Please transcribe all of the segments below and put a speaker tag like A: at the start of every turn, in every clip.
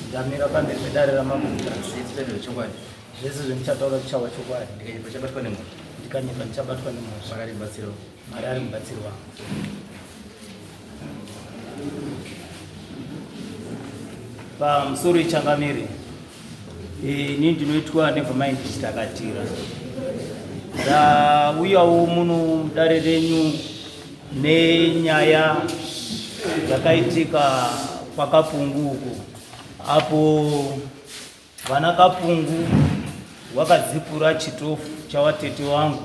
A: ndamira pamberi pedare ramambo zvechokwadi
B: zvese zvendichataura zvichava
A: chokwadi ndikanyepa chabatwa nemho
B: ndikanyepa ndichabatwa nemho
A: makari mubatsiro mari ari mubatsiro wangu pamusoro ichangamire ini ndinoitwa nevermind chitakatira ndauyawo muno mudare renyu nenyaya dzakaitika kwakapungu uku apo vana kapungu wakadzipura chitofu chawatete wangu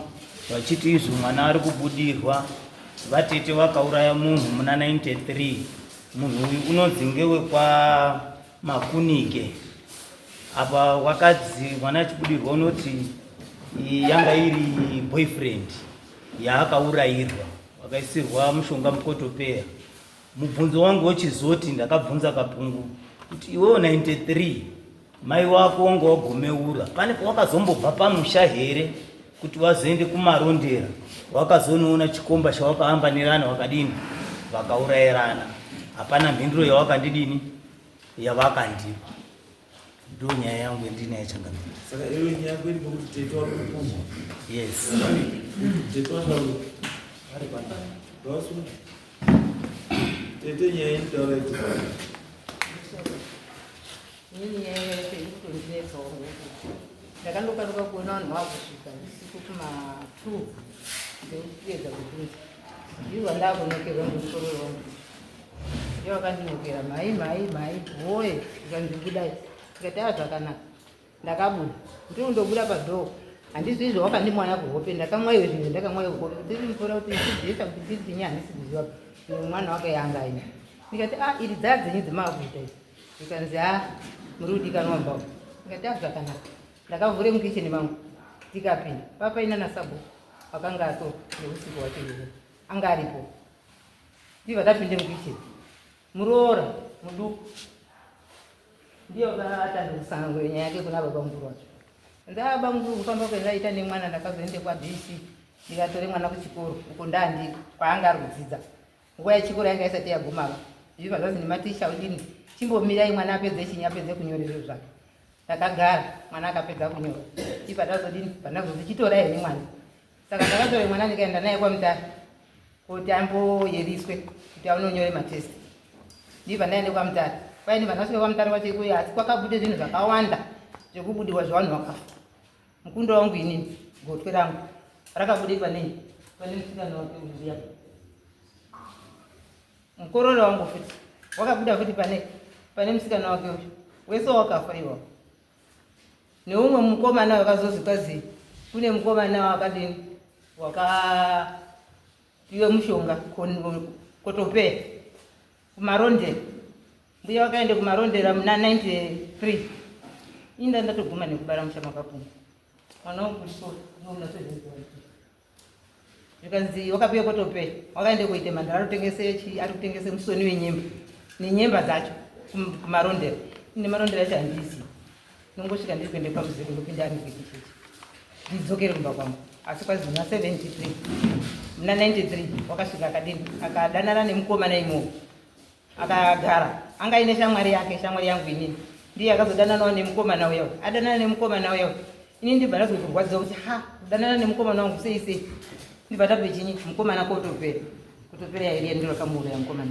A: vachiti izvo mwana ari kubudirwa vatete vakauraya munhu muna 93 munhu uyu unodzinge wekwa makunike apa wakadzi mwana achibudirwa unoti yanga iri boyfriend yaakaurayirwa wakaisirwa mushonga mukotopeya mubvunzo wangu wochizoti ndakabvunza kapungu kuti iwewo 93 mai wako wanga wagomeura pane pawakazombobva pamusha here kuti wazoende kumarondera wakazonoona chikomba chawakaambanirana wakadini vakaurairana hapana mhinduro yawakandidini yavakandipa ndo nyaya yangu yandinaye changamira
B: yes tete nyaya inotaura
C: Inini nyaya yacho iri kutondinetsawo ngokuti ndakandokaruka kuona vanhu vakusvika usiku kuma two ndekuedza kubvunza ndivo vandakunokerwa ngemusoro wevanhu ndivo vakandinokera mhai mhai mhai woye zvikanzi budai tikati a zvakanaka ndakabuda ndiri kundobuda padhoo handizvi izvo wakandimwaya kuhope ndakamwaiwe zvinhu ndakamwaiwe kuhope ndiri mvura kuti ndiziisa kuti ndiri ndinyi handisi kuziva mwana wake yanga ine ndikati a ah, iri dzaya dzenyu dzemaakuita izi zvikanzi ha ah, muri kudikanwa mbao ndikati a ah, zvakanaka ndakavhure mukicheni mangu tikapinda papaina nasabo akanga ato neusiku wacho iye anga aripo ndiva tapinde mukicheni muroora muduku ndiyo atanga kusanangura nyaya yake kuna baba mukuru wacho ndaaba ah, mukuru kufamba kwendaita nemwana ndakazoende kwabc ndikatore mwana kuchikoro uko ndandi kwaanga ari kudzidza Nguva yechikoro yanga isati yagumava. Zvino zvanzi nematicha udini chimbomirai mwana apedze chinyi apedze kunyora izvo zvake. Takagara mwana akapedza kunyora. Ipa tazodini pandazozi chitora here mwana. Saka ndakatora mwana ndikaenda naye kwamutara kuti amboyeriswe kuti aunonyore matest. Ndiva ndaende kwamutara. Kwaini vanasvika kwamutara kwacho ikuyo asi kwakabude zvinhu zvakawanda zvekubudirwa zvevanhu vakafa. Mukunda wangu inini gotwe rangu rakabude pane pane musikana wake uya. Mukororo wangu futi wakabuda futi pane pane musikana wake uyu. Wese wakafa iwawo. Neumwe mukomana wakazozi kwazi kune mukomana wakadini waka iwe mushonga kotopeya kumarondera mbuya wakaenda kumarondera muna 93 inda ndatoguma nekubara musha makapuma mwana wangu kuchikoro zvikanzi wakapiwa kotopera wakaenda kuita mandara ari kutengese chii ari kutengese musoni wenyemba nenyemba dzacho kumarondera ine marondera chahandisi Nongosvika ndiri kuenda pamuzimu ndopinda ari kuikichichi ndidzokere kumba kwangu asi kwazina 73 muna 93 wakasvika akadini akadanana nemukomana imowo akagara anga aine shamwari yake shamwari yangu inini ndiye akazodananawo nemukomana uya adanana nemukomana uya ini ndibva ndakuda kurwadziwa kuti ha kudanana nemukomana wangu sei sei ndibva ndabve chinyi mukomana kotopera kutopera yairia ndiro kamuuraya mukomana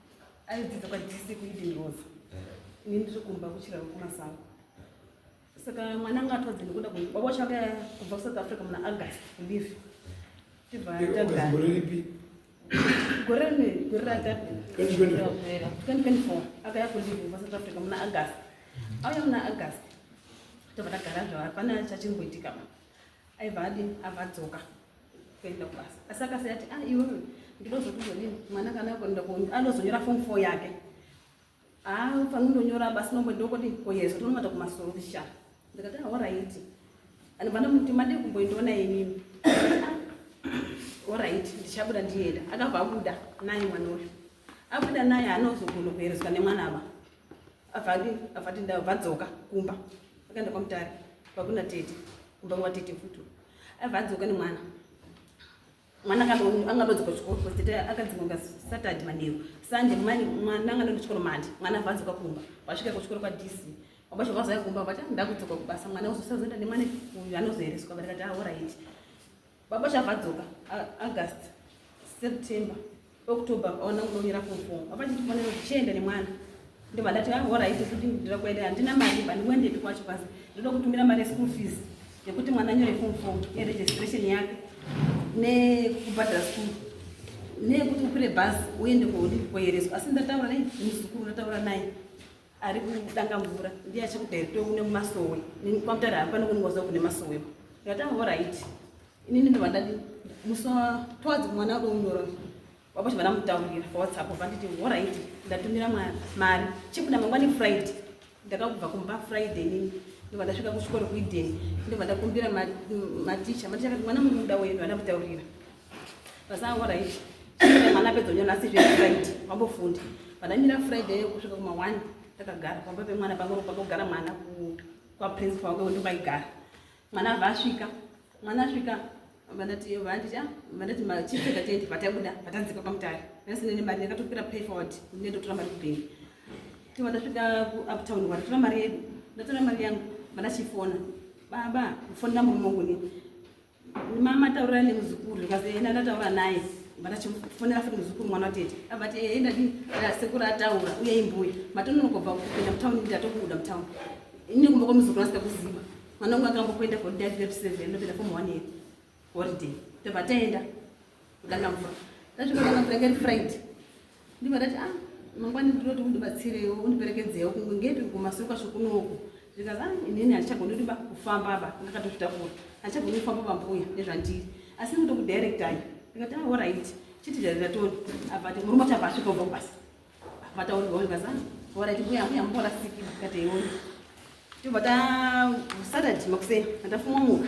D: aidzidza kwadc kueden rose ini ndiri kumba kuchirava kumasango saka mwana anga atwadze nekuda baba wacho anga kubva kusouth africa muna august kulive tibva tagara gore rine gore ratatu 2024 akaya kulive kubva south africa muna august auya muna august tobva tagara zvava pana chachimboitika ma aiva adi avadzoka kuenda kubasa asi akasai ati a ah, iwewe ndinozokuzonini mwana kana akonda anozonyora fom fo yake afange ah, ndonyora basi nomwe ndokoti koyezo tonomata kumasoro kusha ndikati ahoraiti ah, anobvana muti madii kumboindiona inini oraiti ndichabuda ndienda akabva abuda naye mwana uyu abuda naye anozogona kuerezwa nemwana ava avati avati ndavadzoka kumba akaenda kwamutari vakuna tete kumba kwatete futi Aiva adzoka nemwana. Mwana angadodzoka kuchikoro kuti akadzinga Saturday manheru. Sunday mwana mwana angadodzoka kuchikoro mandi. Mwana aiva adzoka kumba. Wasvika kuchikoro kwa DC. Wabacho vazaya kumba vati ndakudzoka kubasa mwana uzosazoenda nemwana uyu anozoereswa vari kati ah alright. Baba chavadzoka August September October pakaona kuda kunyora form four baba chiti kufanira kuti chiende nemwana ndobva ndati ah, horaiti kuti ndira kuenda handina mari ba ndikuendepi kwacho basi ndoda kutumira mari yeschool fees yekuti mwana anyore form four neregistration yake nekubhadhara school neyekuti ukwire bhazi uende kwaudi kwayereswa asi ndataura nei muzukuru ndataura naye ari kudanga mvura ndiye achikudirector kune masowe nini kwamutare hapa nokuningwaza kune masowe ndikatanga ho right inini ndobva ndati musa towards mwana wako unyoro wapacho vana mutaurira pawhatsapp obva nditi ho right ndatumira mari chibuda mangwani friday ndakakubva kumba friday nini ndobva ndasvika kuchikoro kueden ndobva ndakumbira maticha maticha kati mwana mukuda wenyu ana mutaurira Pasango right. Mwana pedza nyona asi zviri right. Mambo fundi. Pana mira Friday kusvika kuma 1 takagara pamba pe mwana pangoro pakogara mwana ku kwa principal wake undi maigara. Mwana vasvika. Mwana svika vandati vanditi ah vandati ma chief secretary vatabuda vatadzika pamutari. Nasi nene mari yakatopira pay forward. Nendo tora mari kubengi. Tiva ndasvika ku uptown wari tora mari yedu. Ndatora mari yangu. Vana chifona. Baba, fona murume wangu ne. Mama taura nemuzukuru because yena ndataura naye but achifonera futi muzukuru mwana watete abati ehe ndati sekuru ataura uye imbuya matononokobva kupinda mutown ndatokubuda mutown ini kumba kwamuzukuru asika kuziva mwana wangu akambokuenda for day 37 ndopinda form one year holiday tobva taenda ndakafa ndasvika ndakafa yanga iri friday ndibva ndati ah mangwani ndinoti undibatsirewo undiperekedzewo kunge ngepi kumasuka svokunoku zvikati ah inini handichagoni kuti kufamba ba ndakatozvitakura handichagoni kufamba bambuya nezvandiri asi ndinoto kudirectai ndikati ah orit chiti zvaizatoni abati murume wacho abva asvika ubva kubasa vataurwa uyu kaza orit mbuya mbuya mbola siki ndikati iwoni tobva ta saturday makuseni andafumwa muka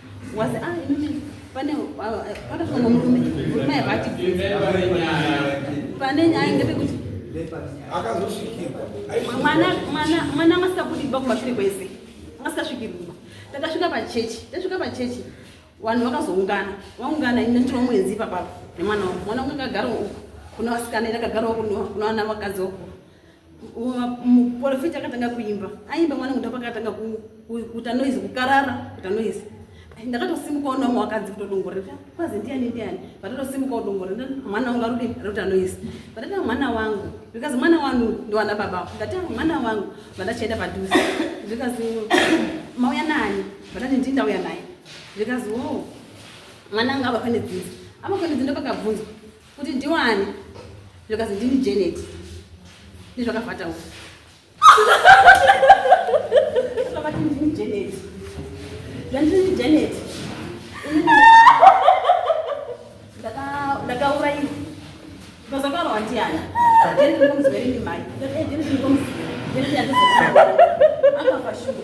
D: was ah inini pane pakafunga murume murume aivati pane nyaya ngepekuti akazosvikirwa mwana mwana mwana angasingabudi kumba kumashure kwese angasingasvikirwa takasvika pachechi tasvika pachechi vanhu vakazoungana vaungana ini ndiri wamwenzi ipapapo nemwana wangu mwana wangu akagara uku kuna vasikana ini akagara uku kuna vana vakadzi uku muporofita akatanga kuimba aimba mwana kuda pakatanga kuita noise kukarara kuita noise ndakatosimuka ona umwe wakadzi kutodongorera kwazi ndiyani ndiyani vatotosimuka kudongorera mwana wangu arudi arikuita noise vatati mwana wangu zvikazi mwana wanu ndiwana baba ndati mwana wangu vandachaenda padhuze zvikazi mauya nani vatati ndii ndauya naye zvikazi wo mwana anga avakwane dzinza avakwane dzinda pakabvunzwa kuti ndiwani zvikazi ndini janet ndizvakavhata uku vakati ndini janet zvandini janet ndakaurayiwa ndozakaurawa ndiana janet ndikomuziverinimai janet ndikomuziveri janet yandizaa akafashuwa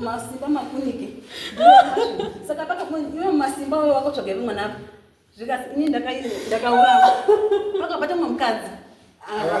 D: masimba makunike saka pakamuiwe masimba uyo wakatsvaga iri mwana apo zvikasi ini ndakaurava pakabata mumwe mukadzi ah.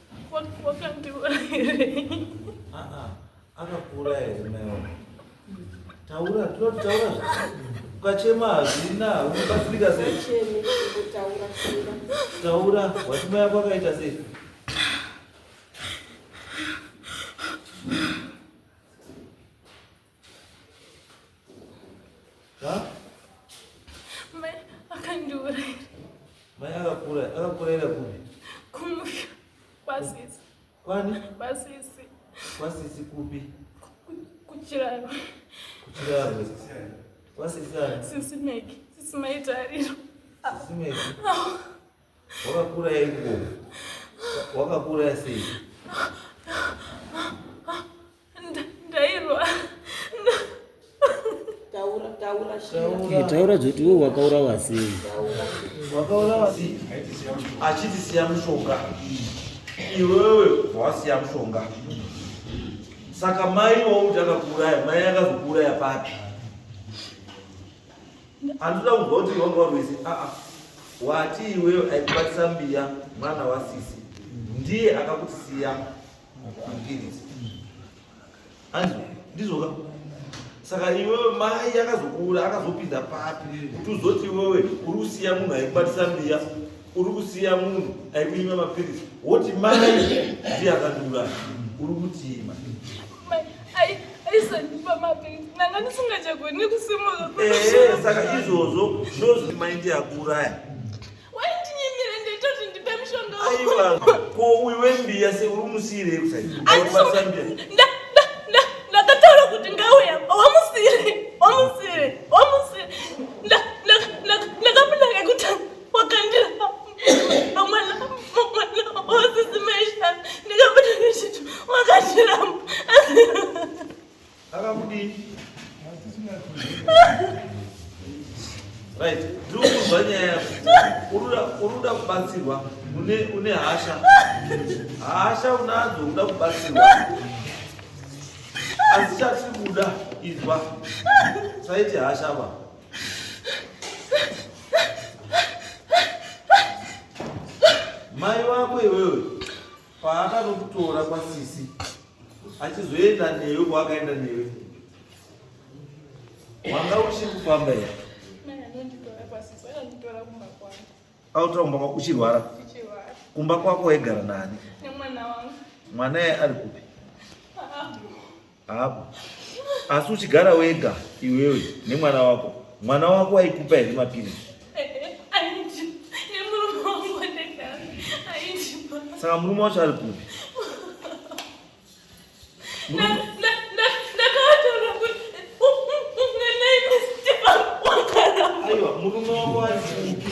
E: akakura
B: here maiwa taura tinotaura ukachema hazvina unobatsirika sei
D: taura
B: watima yako akaita sei
E: Mai akandiuraya. Mai
B: akakuuraya, akakuurayira kupi? Kumusha
E: kwasisi. Kwani?
B: Kwasisi.
E: Kwasisi
B: kupi?
E: Kuchiraro.
B: Kuchiraro. Kwasisi ani? Sisi Meki. Sisi
E: Maitariro. Sisi Meki.
B: Wakakura here
E: kubomo? Wakakura
A: sei? taura zoti iwe wakaurawa sei
B: wakaurawa sei achiti siya mushonga iwewe wasiya mushonga saka mai wauti akakuuraya mai akazokuuraya papi Andida kunzwa kuti wanga warwese aa ah, ah. wati iweyo aikubatisa mbiya mwana wasisi ndiye akakutisiya mpiritsi anzi ndizoka saka iwewe mai akazokuura akazopinda papi kuti uzoti iwewe uri kusiya munhu aikubatisa mbiya uri kusiya munhu ari kunyima mapiritsi woti mai ndiye akandiuraya uri kutima
E: eh, saka
B: izvozvo ndozvoti mai ndiye akuuraya
E: aiwa ko
B: uyu wembiya se uri musiirei
E: kusaiaasambia right
B: ndiri kunzwa nyaya yako unoda kubatsirwa une hasha hasha unadzo unoda kubatsirwa asi chatiri kuda izwa saiti hasha va Mai wako iwewe paakanokutora kwasisi achizoenda newe kwaakaenda newe wanga uchiri kufamba here autaumba kwako uchirwara kumba kwako waigara nani mwana ye ari kupi Hapo. Asi uchigara wega iwewe nemwana wako. Mwana wako aikupa here mapiritsi? Saka murume wacho ari kupi? Murume wako ari kupi?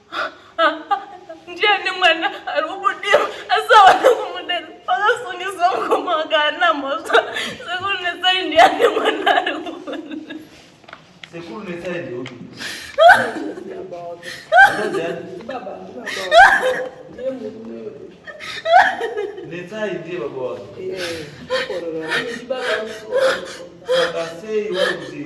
E: ndiani mwana ari kubudirwa asi awana kumudera vakasungisa mukoma wakaana mhosva sekuru netsai ndiani mwana ari sekuru
B: netsai ndiopi netsai ndiye baba wake vakasei vari kuti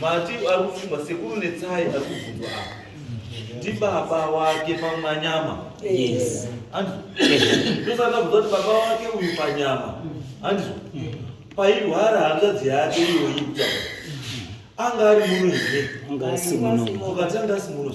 B: Mati ari kufunga sekuru Netsai ari kubvunzwa apa ndibaba wake pamanyama yes. ndosaka bvunza kuti baba wake uyu panyama handizvo pairwara hanzvadzi yake iyoyi kutaura anga ari muno here ukati anga asi muno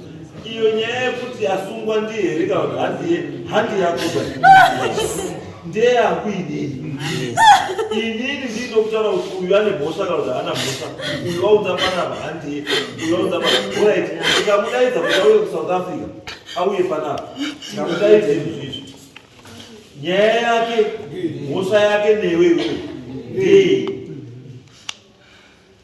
B: iyo nyaya yekuti asungwa ndiye here kana kuti handiye handi yakuba ndeyangu inini inini ndinokutaura kuti uyu ane mhosva kana kuti haana mhosva uyu waunza panapa handiye uyu waunza panapa orit ndikamudaidza kuti auye kusouth africa auye panapa ndikamudaidza izvizvi nyaya yake mhosva yake newe iwe ndei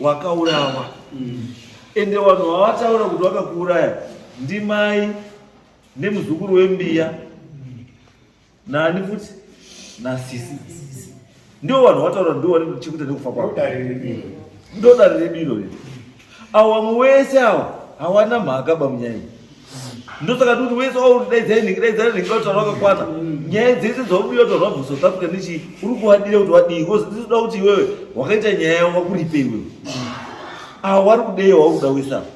B: wakaurawa mm. ende vanhu vavataura kuti wakakuuraya ndimai nemuzukuru wembiya nani futi nasisi ndio vanhu vataura ndio vari chekuita nekufa kwavo ndo dare redu irori avo vamwe wese avo hawana mhaka bamunyai ndosaka tikuti wese waudaidzai nhingi daidzai nhingi dautaura wakakwana nyaya dzese dzaudiwa taura bvu south africa nechii uri kuwadira kuti wadii bcause titoda kuti iwewe wakaita nyaya yavo wakuripe iwewe ava wari kudei wauri kuda wese ava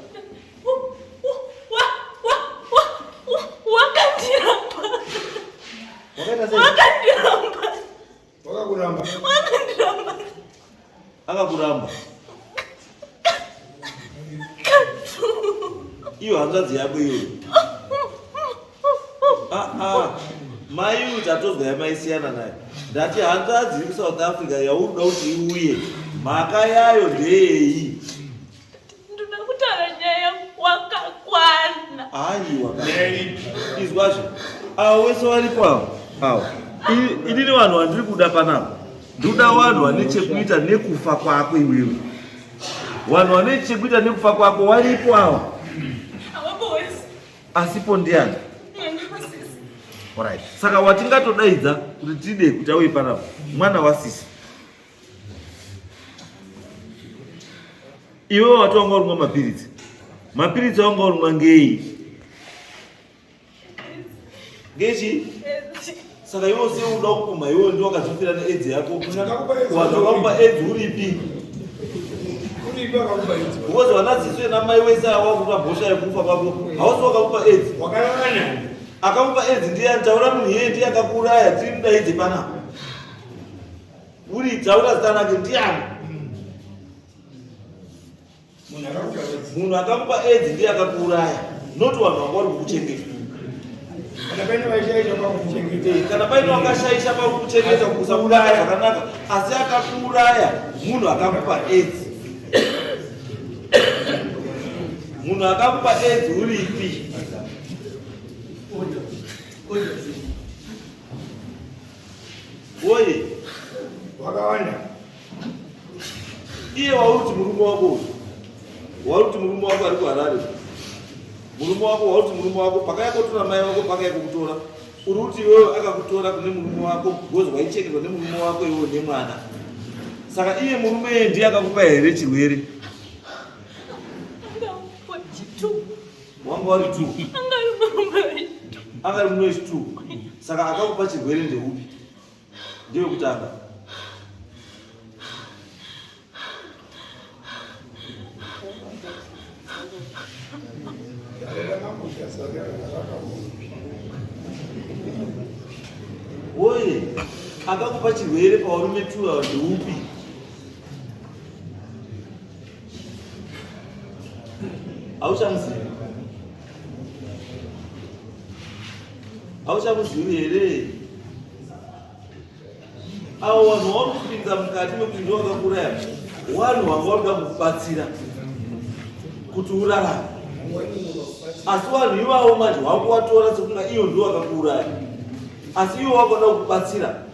B: Wakakuramba. Wakandiramba. Akakuramba. Iyo hanzvadzi yako iyo. Ah ah. Mai uyu tatozwa yamaisiyana naye. Ndati hanzvadzi iri South Africa yauri kuda kuti iuye. Mhaka yayo ndeyei?
E: Ndoda kutaura nyaya wakakwana. Hayi wakakwana.
B: Izwazve. Awo wese waripo awo. Awo. Ini ni vanhu vandiri kuda panapa. Ndoda vanhu vane chekuita nekufa kwako iwewe. Vanhu vane chekuita nekufa kwako waripo awa. Awapo wese. Asipo ndiani? Alright. Saka watingatodaidza kuti tide kuti auye panapa. Mwana wasisi. Iwe wati wanga urumwa mapiritsi, mapiritsi awanga urumwa ngei? Ngechi? Saka iwe usiye uda kupuma, iwe ndiwe wakazvifira needzi yako. Wanhu wakakupa edzi uripi? Because wanadzidziswe namai wese awa kuta bhosha yekufa kwako, hausi wakakupa edzi. Akakupa edzi ndiye antaura munhu yeye ndiye akakuuraya, tiri mudaidze panapa. Buritsa ura zita rake ndiani? Munhu akakupa edzi ndiye akakuuraya, not vanhu vanga vari kukuchengeta. Kana paine wakashaisha pakukuchengeta kusauraya zvakanaka, asi akakuuraya munhu akakupa edzi. Munhu akakupa edzi uripi? Woye. Wakawanda. Iye wauri kuti murume wako uyu. Wauri kuti murume wako ari kuHarare. Murume wako wauri kuti murume wako pakaya kotora mai wako pakaya kokutora. Uri kuti iwewe akakutora kune murume wako because waichekerwa nemurume wako iwewe nemwana. Saka iye murume ndiye akakupa here chirwere? wanga wari two anga ari muno is two saka akakupa chirwere ndeupi ndewekutanga oye akakupa chirwere pawarume two awa ndeupi hauchamuzivi hauchamuzivi here avo vanhu vaunopinza mukati mekuti ndovakakuraya wanhu vanga vanoda kukubatsira kuti urarame asi vanhu ivavo manje wakuvatora sekunga iyo ndiwo vakakuuraya asi iwo wakuda kukubatsira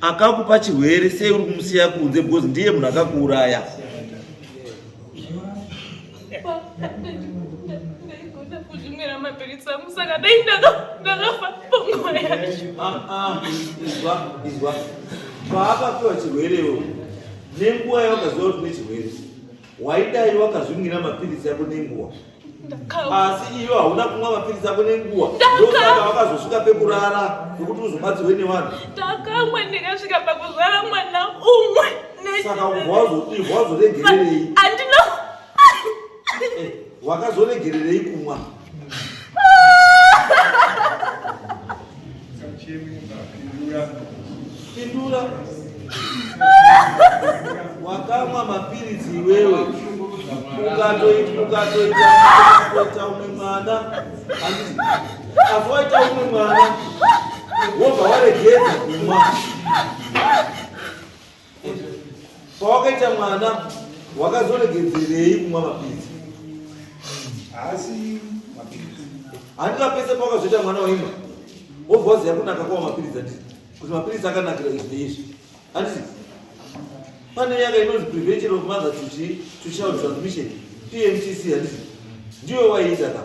B: akakupa chirwere sei uri kumusiya kunze because ndiye munhu akakuuraya paakapiwa chirwerewo nenguva yawakaziva kuti nechirwere waidai wakazvimwira mapiritsi yako nenguwa asi iyo hauna kumwa mapiritsi ako nenguwa ndosaka wakazosvika pekurara nokuti uzobatsirwe nevanhu ndakamwa
E: ndikasvika pakuzvara
B: mwana umwe saka wazoregererei andina
E: eh,
B: wakazoregererei kumwa wakamwa mapiritsi iwewe ukatoita umwe mwana asi waita umwe mwana wobva waregedza kumwa Pawakaita mwana wakazoregedzerei kumwa mapiritsi? Haasi mapiritsi. Handina pese pawakazoita mwana waimwa. Wobva waziva kunaka kwa mapiritsi anditi kuti mapiritsi akanakira izvi neizvi. Anditi pane nyaya inonzi prevention of mother to chi to child transmission PMTC handiti ndiwe waiita ka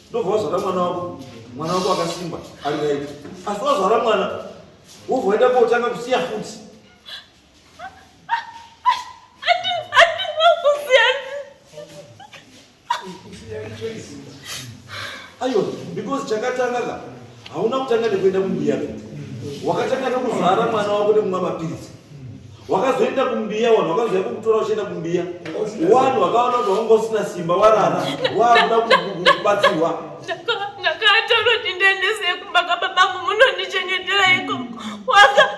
B: ndobva wazvara mwana wako mwana wako akasimba ari right asi wazvara mwana Wovoenda kotanga kusiya futi. Ayo, because chakatanga ka hauna kutanga nekuenda kumbuya wakatanga nekuzara mwana wako nekumwa mapiritsi wakazoenda kumbiya wanhu wakazoya kukutora uchienda kumbiya wanhu wakaona kuti wanga usina simba warara wakuda kubatsirwa ndakataura
E: kuti ndiendese kumba kababangu munondichengetera iko waka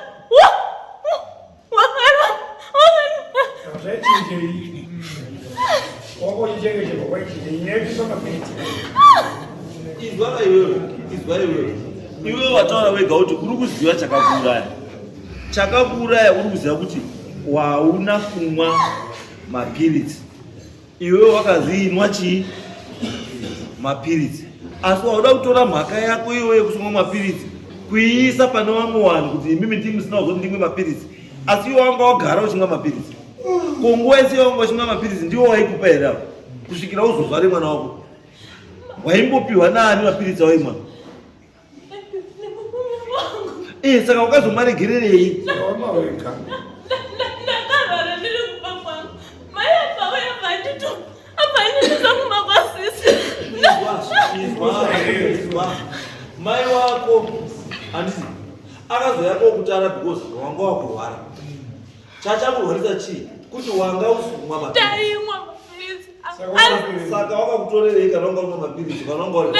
E: wakara zvachinjei
B: wakoichengeteka kwaichinjei nyebiso mabeti izwa iwewe izwa iwewe iwewe wataura wega kuti uri kuziva chakakuuraya chakakuuraya uri kuziva kuti wauna kumwa mapiritsi iwe wakaziinwa chii mapiritsi asi wauda kutora mhaka yako iwe yekusumwa mapiritsi kuiisa pane vamwe vanhu kuti imimi ndi musina kuzoti ndimwe mapiritsi asi iwe wanga wagara uchimwa mapiritsi ko nguva yese yawanga uchimwa mapiritsi ndiwo waikupa here avo kusvikira uzozvare mwana wako waimbopiwa naani mapiritsi awaimwa Eh, saka wakazomaregererei?
E: Mama
B: weka. Mai wako handisi akazouya kokutara because wanga wakurwara. Chachakurwarisa chii? Kuti wanga usumwa mapiritsi.
E: Saka
B: wakakutorerei kana wanga unwa mapiritsi kana wanga uri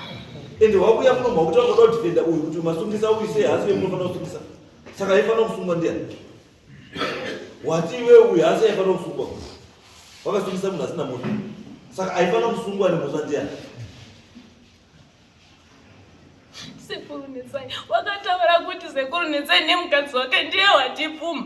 B: ende wakuya muno makuti wakoda kudefenda uyu kuti masungisa uyu sei hasi yemunofanira kusungisa saka aifanira kusungwa ndiani wati iwe uyu hasi aifanira kusungwa wakasungisa munhu asina munhu saka aifanira kusungwa nemhosva ndiani sekuru
E: netsai wakataura kuti sekuru netsai nemukadzi wake ndiye watipfuma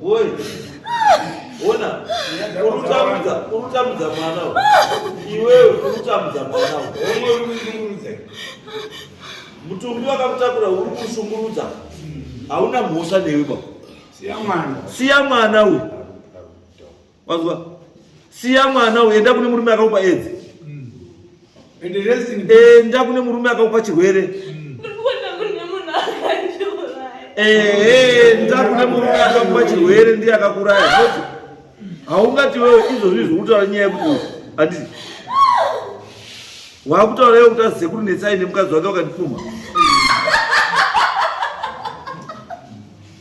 B: Woi. Ona. Urutambudza, urutambudza mwana uyu. Iwewe urutambudza mwana uyu. Omwe uri kushungurudza. Mutumbi wakakutakura uri kushungurudza. Hauna mhosva newe baba. Siya mwana. Siya mwana uyu. Wanzwa? Siya mwana uyu, enda kune murume akakupa AIDS. Mm. And the rest in peace. Enda kune murume akakupa chirwere. Mm. Eh, enda kune murume akakupa chirwere ndiye akakuraya. Haungati wewe izvo zvizvi kutaura nyaya yekuti handiti. Wakutaura iwe kuti azize kuti netsai nemukadzi wake wakandipfuma.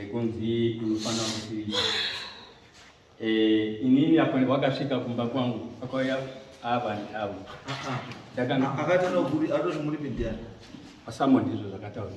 F: ekunzi unofanira kuti eh, inini apo wakasvika kumba kwangu akauya ava avo
B: akati muri pindiyana asamoni izvo
F: zvakataura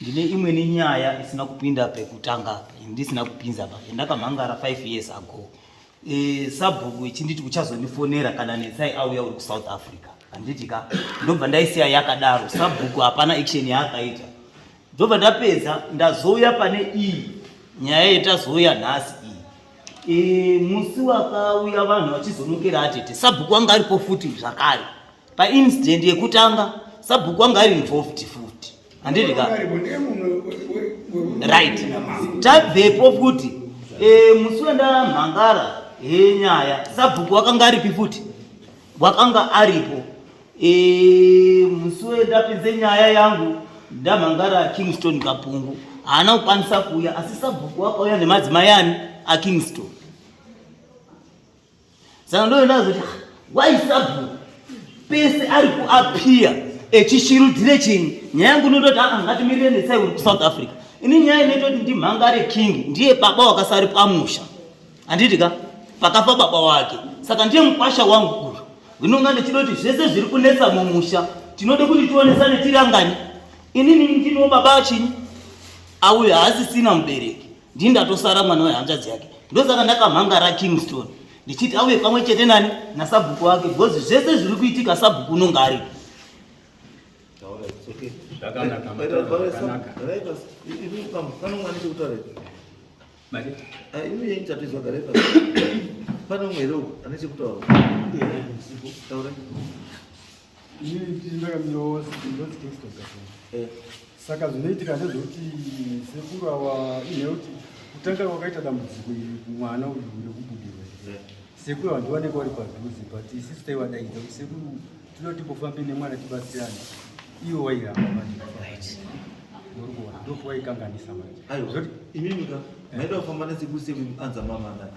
A: ndine imwe nenyaya isina kupinda pekutanga ndisina kupinza pa ndakamhangara 5 years ago e, sabhuku ichinditi uchazonifonera kana netsai auya uri kusouth africa handiti ka ndobva ndaisiya yakadaro sabhuku hapana action yaakaita ndobva ndapedza ndazouya pane iyi nyaya yetazouya nhasi iyi e, musi wakauya vanhu vachizonokera atete sabhuku wanga aripo futi zvakare paincident yekutanga sabhuku anga ari involved futi handiti ka right tabvepo futi eh, musi wendamhangara henyaya sabhuku wakanga aripi futi wakanga aripo eh, musi wendapinze nyaya yangu ndamhangara kingston kapungu haana kukwanisa kuuya asi sabhuku wakauya nemadzimai ani akingston saka ndoenda zoti why sabu pese ari kuappear echishirudhire chinyi nyaya yangu inototi aa ah, ngatimirire netsai uri kusouth africa ini nyaya inoita kuti ndimhangare king ndiye baba wakasari pamusha handiti ka pakafa baba wake saka ndiye mukwasha wangu uyu ndinonga ndichida kuti zvese zviri kunetsa mumusha tinoda kuti tionesane tiri angani inini ndinoo baba chinyi auyo haasisina mubereki ndini ndatosara mwana wehanzvadzi yake ndosaka ndakamhangara kingstone ndichiti auye pamwe chete nani nasabhuku wake because zvese zviri kuitika sabhuku unonge aripo
G: Eh. saka zvinoitika ndezvekuti sekuru awa inheuti kutanga kwakaita dambudziko iri kumwana uyu nekubudirwa eh. sekuru awa ndiwaneka wari padhuze but isisu taiwadaidza kuti sekuru tinoda timbofambe nemwana tibatsirane iwo wairamba manje urikuona ndokuwaikanganisa manje zvoti imimika
B: maida kufamba nesekuru sekuru anza mama ndani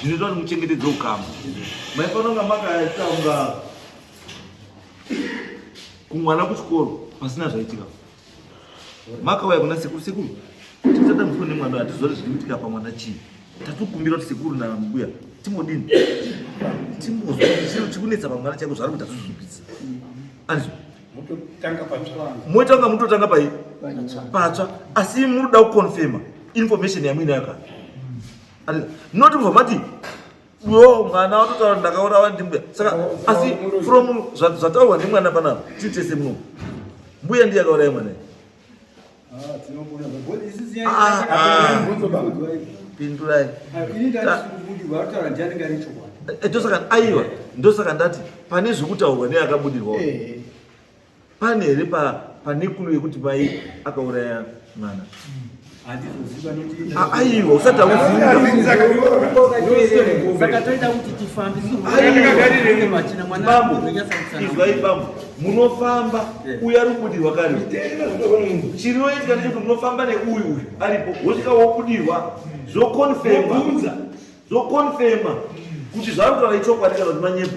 B: zvinoitwa kuti muchengetedze ukama maifanira kunga makaita kunga kumwana kuchikoro pasina zvaitika makauya kuna sekuru sekuru tisadambudzwa nemwana hatizori zviri kuitika pamwana chii tatokumbira kuti sekuru namubuya timodini timbozwa chiro chikunetsa pamwana chaiko zvari kuti atozvipisa anizvo moitanga mutotanga pai patsva asi muri kuda kuconfirma information yamwini yakati not kubva mati yo mwana watotaura ndakaurawa ndimbuya saka asi from zvataurwa ndimwana panapa titese muno mbuya ndiye akauraya mwana ah, ah. pindurai ndosaka aiwa ndosaka ndati pane zvekutaurwa neakabudirwawo eh, eh. pane here panekulu yekuti mai akauraya mwana ah, aiwa usati
G: auzivaizwai
B: bambo munofamba uyo ari kubudirwa kare chinoitika nechekuti munofamba neuyu uyu aripo wosvika wobudirwa zvokonfema zvokonfema kuti zvaari kutaura ichokwadi kana kuti manyepo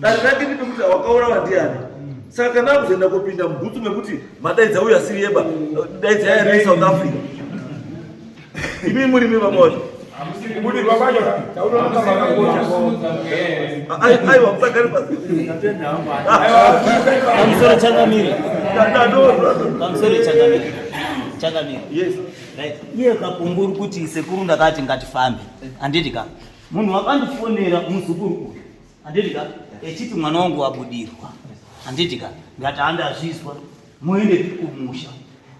B: Dare rake ndipe kuti wakaurawa ndiani. Saka kana akuzoenda kopinda mubhutsu mekuti madaidza uyo asiri yeba daidza yairi South Africa. Imi muri mimi vamoto. Muri vamoto. Taunoona makakocha. Ai ai wapakari pa. Kamsoro changamire.
A: Kandanoro. Kamsoro changamire. Changamire. Yes. Right.
B: Iye
A: kapunguru kuti sekuru ndakati ngatifambe. Anditi ka. Munhu wakandifonera muzukuru uyu. handiti ka echiti mwana wangu wabudirwa handiti ka ndati handazvizwa moende kumusha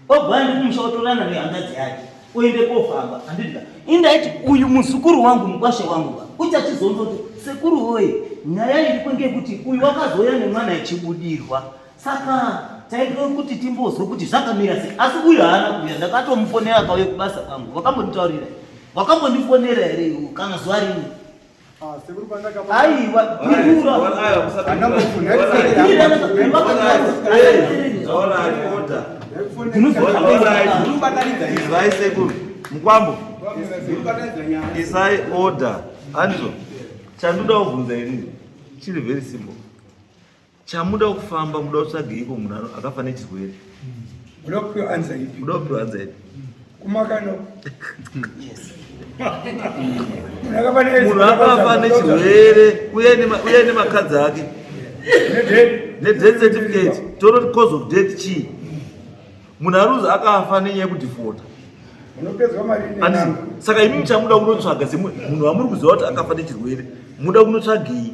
A: obva aende kumusha otorana nehangadzi yake oende kofamba handiti ka indaiti uyu muzukuru wangu mukwashe wangu ka uchachizonzoti sekuru woye nyaya iripo ngekuti uyu wakazouya nemwana echibudirwa saka taida kuti timbozwe kuti zvakamira sei asi uyu haana kuuya ndakatomufonera kauye kubasa kwangu wakambonditaurira wakambondifonera here kana zuva rimwe
B: aiwa izwai sekuru mukwambo isai order andizvo chandoda kubvunza inini chiri very simple Chamuda kufamba muda kutsvageiko munhu akafa nechirwere? Muda kupiwa anza ipi? Muda kupiwa
H: anza ipi?
B: Kumakano. Yes. Munhu akafa nechirwere uye nemakadzi ake. Nedeath certificate. Toroti cause of death chii? Munhu aruzi akafa nenyaya yekudhifota. Saka imi muchamuda kunotsvaga semunhu wamuri kuziva kuti akafa nechirwere. Muda kunotsvagei?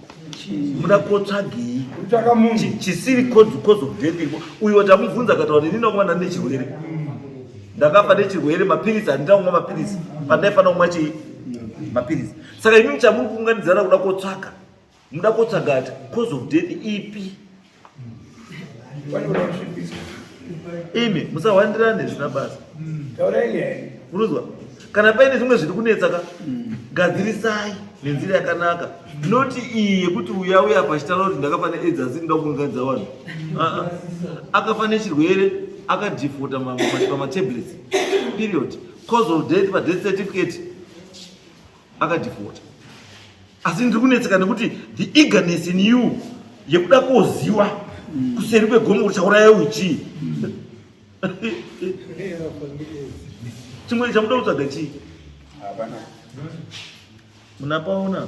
B: muda kotsvagei chisiri cause of death uyu watamubvunza akataura ini ndakuva ndane chirwere ndakafa nechirwere mapiritsi handina kumwa mapiritsi pandaifanira kumwa chii mapiritsi saka imi muchamuri kuunganidzana kuda kotsvaga muda kotsvaga ati cause of death ipi imi musahwandirane zvisina basa munonzwa kana paine zvimwe zviri kunetsa ka gadzirisai nenzira yakanaka noti iyi yekuti uya uya pachitara kuti ndakafana edzi asi ndida kuunganidza vanhu akafa nechirwere akadhifota pamatablets period cause of death padeath certificate akadhifota asi ndiri kunetseka nekuti the eagerness in you yekuda koziwa kuseri kwegomo uchauraya uchi chimwe chamuda kutsvaga chii munapaona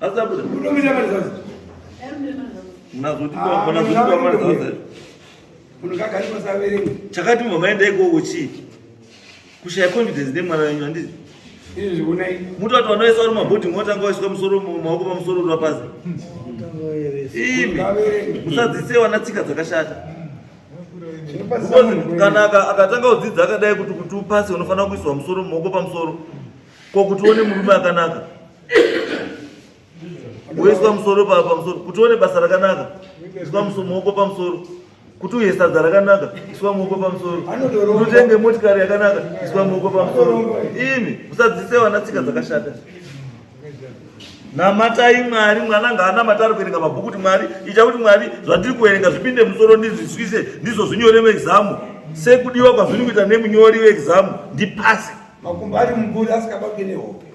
B: Asabuda. Unomira mari
H: zazi. Unazotipa
B: ah, unazotipa mari zazi.
H: Unogagari pasaverenga. Chakati mama enda
B: ikoko chii? Kushaya confidence nemwana wenyu handizi. Izvi unai. Mutu watu wanoisa uri mabhoti mwotanga waiswa musoro maoko pamusoro uri wapazi. Imi. Musadzise wana tsika dzakashata. Because kana akatanga kudzidza akadai kuti kuti upase unofanira kuiswa musoro maoko pamusoro. Ko kuti uone murume akanaka. woiswa musoro pamusoro kuti uone basa rakanaka iswa muoko pamusoro kuti uye sadza rakanaka iswa muoko pamusoro kuti utenge motikari yakanaka iswa muoko pamusoro imi musadzise vana tsika dzakashata namatai mwari mwana ngaanamata ari kuverenga mabhuku kuti mwari ita kuti mwari zvandiri kuverenga zvipinde musoro ndizviswise ndizvo zvinyore muexamu sekudiwa kwazviri kuita nemunyori weexamu ndipase makumbo ari
H: muguri asikababe nehope